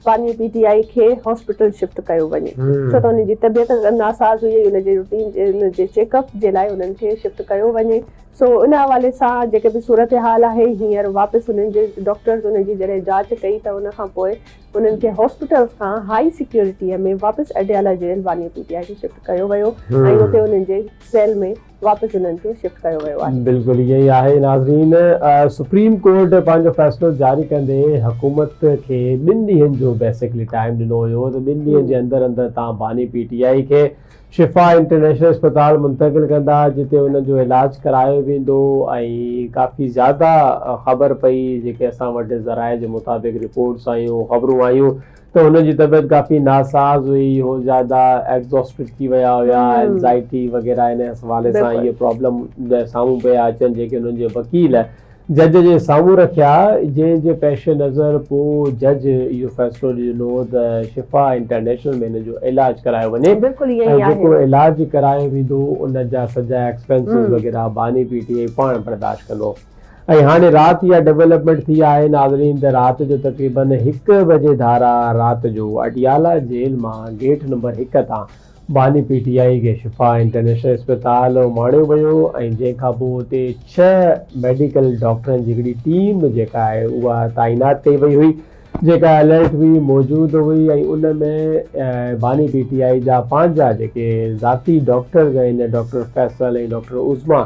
پاڻي پي ٽي آئي کي hospital shift ڪيو وڃي ڇو ته هن جي طبيعت ناساز هئي ان جي روٽين ان جي چيڪ اپ جي لاء انهن کي شفٽ ڪيو وڃي سو ان حوالي سان جيڪي به صورتحال آهي هينئر واپس انهن جي ڊاڪٽرز ان جي جڏهن جاچ ڪئي ته ان کان پوء انهن کي هاسپيٽل کان هائي سيڪيورٽي ۾ واپس اڊيالا جيل پاڻي پي ٽي آئي کي شفٽ ڪيو ويو ۽ اتي انهن جي سيل ۾ واپس انهن کي شفٽ ڪيو ويو آهي. بلڪل ائين ئي آهي ناظرين سپريم ڪورٽ پنهنجو فيصلو جاري ڪندي حڪومت کي ٻن ڏينهن جو بيسڪلي ٽائيم ڏنو هيو ته ٻن ڏينهن جي اندر اندر تان باني پي ٽي آئي کي شفا انٽرنيشنل اسپتال منتقل ڪندا جتي انهن جو علاج ڪرايو ويندو ۽ ڪافي زياده خبر پئي جيڪي اسان وٽ ذرائع جي مطابق رپورٽس آيون خبرون آيون ته هن جي طبيعت ڪافي ناساز هئي، هو زياده ايگزاسٽڊ ٿي ويا هيا، اينزائٽي وغيره ان حوالي سان اهي پرابلم سامهون پيا اچن جيڪي هنن جي وڪيل جج جي سامهون رکيا جنهن جي پيش نظر پوء جج اهو فيصلو ڏنو ته شفا انٽرنيشنل ۾ هن جو علاج ڪرايو وڃي ۽ جيڪو علاج ڪرايو ويندو ان جا سڄا ايڪسپينسز وغيره باني پي ٽي آء پاڻ برداشت ڪندو. ۽ هاڻي رات اها ڊولپمينٽ ٿي آهي ناظرين ته رات جو تقريبن هڪ بجي ڌارا رات جو اڊيالا جيل مان گيٽ نمبر هڪ تان باني پي ٽي آئي کي شفا انٽرنيشنل اسپتال اماڻيو ويو ۽ جنهن کان پوء اتي ڇهه ميڊيڪل ڊاڪٽرن جي هڪڙي ٽيم جيڪا آهي اها تعينات ڪئي وئي هئي جيڪا الرٽ هئي موجود هئي ۽ ان ۾ باني پي ٽي آئي جا پنهنجا جيڪي ذاتي ڊاڪٽرز آهن ڊاڪٽر فيصل ۽ ڊاڪٽر عظميٰ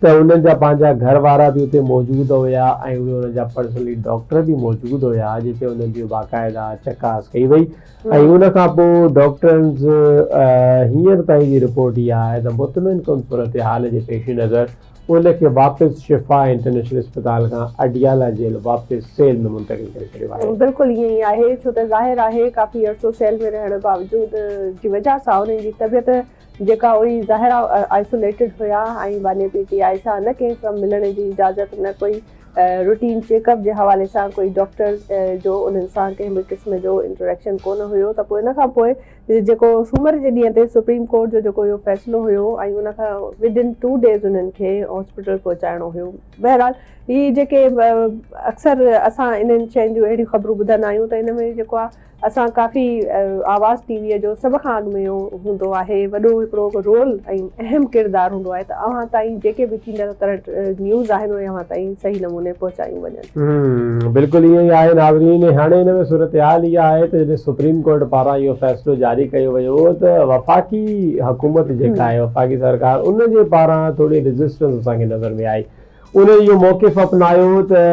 ته انهن جا پنهنجا گهر وارا به اتي موجود هيا ۽ اهي انهن جا پرسنلي ڊاڪٽر به موجود هيا جتي انهن جي باقاعده چڪاس ڪئي وئي ۽ ان کان پوء ڊاڪٽرنز هينئر تائين جي رپورٽ اها آهي ته مطمئن ڪن صورتحال جي پيش نظر ان کي واپس شفا انٽرنيشنل اسپتال کان اڊيالا جيل واپس سيل ۾ منتقل ڪري ڇڏيو آهي. بلڪل ائين ئي آهي ڇو ته ظاهر آهي ڪافي عرصو سيل ۾ رهڻ باوجود جي وجهه سان انهن جي طبيعت جيڪا اهي ظاهرا آئسوليٽيڊ هيا ۽ باني پي ٽي آء سان نه ڪنهن سان ملڻ جي اجازت نه ڪوئي روٽين چيڪ اپ جي حوالي سان ڪوئي ڊاڪٽر جو انهن سان ڪنهن به قسم جو انٽريڪشن ڪونه هيو ته پوء ان کان پوء جيڪو سومر جي ڏينهن تي سپريم ڪورٽ جو جيڪو اهو فيصلو هيو ۽ ان کان ودن ٽو ڊيز انهن کي هاسپيٽل پهچائڻو هيو بهرحال هي جيڪي اڪثر اسان انهن شين جون اهڙيون خبرون ٻڌندا آهيون ته ان ۾ جيڪو آ اسان ڪافي آواز ٽي وي جو سڀ کان اڳ ۾ اهو هوندو آهي وڏو هڪڙو رول ۽ اهم ڪردار هوندو آهي ته اوهان تائين جيڪي به ٿيندڙ ڪرنٽ نيوز آهن اهي اوهان تائين صحيح نموني پهچايون وڃن. بلڪل ائين ئي آهي ناظرين ۽ هاڻي ان ۾ صورتحال اها آهي ته جڏهن سپريم ڪورٽ پاران اهو فيصلو جاري ڪيو ويو هو ته وفاقي حڪومت جيڪا آهي وفاقي سرڪار ان جي پاران ٿوري ريزسٽنس اسان کي نظر ۾ آئي انهن اهو موقف اپنايو ته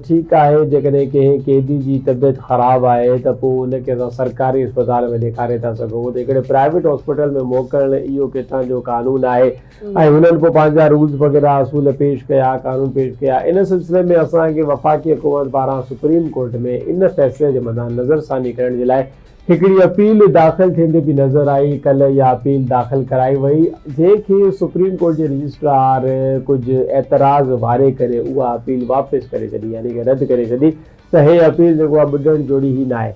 ٺيڪ آهي جيڪڏهن ڪنهن قيدي جي طبيعت خراب آهي ته پوء ان کي اسان سرڪاري اسپتال ۾ ڏيکاري ٿا سگهون ته هڪڙي پرائيويٽ هاسپيٽل ۾ موڪلڻ اهو ڪٿان جو قانون آهي ۽ هنن پوء پنهنجا رولز وغيره اصول پيش ڪيا قانون پيش ڪيا ان سلسلي ۾ اسان کي وفاقي حڪومت پاران سپريم ڪورٽ ۾ ان فيصلي جي مدان نظرثاني ڪرڻ جي لاء هڪڙي اپيل داخل ٿيندي به نظر آئي، ڪلهه اها اپيل داخل ڪرائي وئي، جنهن کي سپريم ڪورٽ جي رجسٽرار ڪجهه اعتراض واري ڪري اها اپيل واپس ڪري ڇڏي يعني ڪه رد ڪري ڇڏي ته هي اپيل جيڪو آهي ٻڏڻ جوڙي ئي ناهي.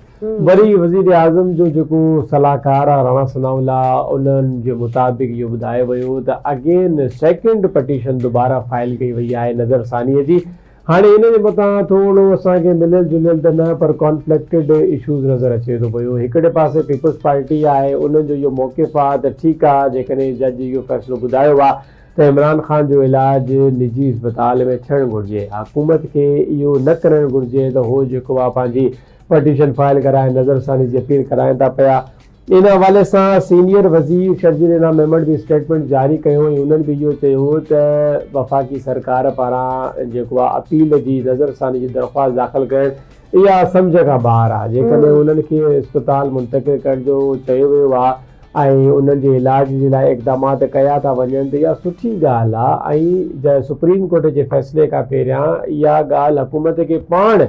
وري وزيراعظم جو جيڪو صلاحڪار آهي راڻا ثناء الله انهن جي مطابق اهو ٻڌايو ويو ته اگين سيڪنڊ پٽيشن دوباره فائل ڪئي وئي آهي نظرثانيء جي هاڻي ان جي مٿان ٿورڙو اسان کي مليل جليل ته نه پر ڪانفليڪٽيڊ ايشوز نظر اچي ٿو پيو. هڪڙي پاسي پيپلز پارٽي آهي انهن جو اهو موقف آهي ته ٺيڪ آهي جيڪڏهن جج اهو فيصلو ٻڌايو آهي ته عمران خان جو علاج نجي اسپتال ۾ ٿيڻ گهرجي حڪومت کي اهو نه ڪرڻ گهرجي ته هو جيڪو آهي پنهنجي پٽيشن فائل ڪرائي نظرثاني جي اپيل ڪرائين ٿا پيا ان حوالي سان سينيئر وزير شرجيل انعام ميمڻ به اسٽيٽمينٽ جاري ڪيو ۽ هنن به اهو چيو هو ته وفاقي سرڪار پاران جيڪو آهي اپيل جي نظرثاني جي درخواست داخل ڪرڻ اها سمجهه کان ٻاهر آهي جيڪڏهن انهن کي اسپتال منتقل ڪرڻ جو چيو ويو آهي ۽ انهن جي علاج جي لاء اقدامات ڪيا ٿا وڃن ته اها سٺي ڳالهه آهي ۽ سپريم ڪورٽ جي فيصلي کان پهريان اها ڳالهه حڪومت کي پاڻ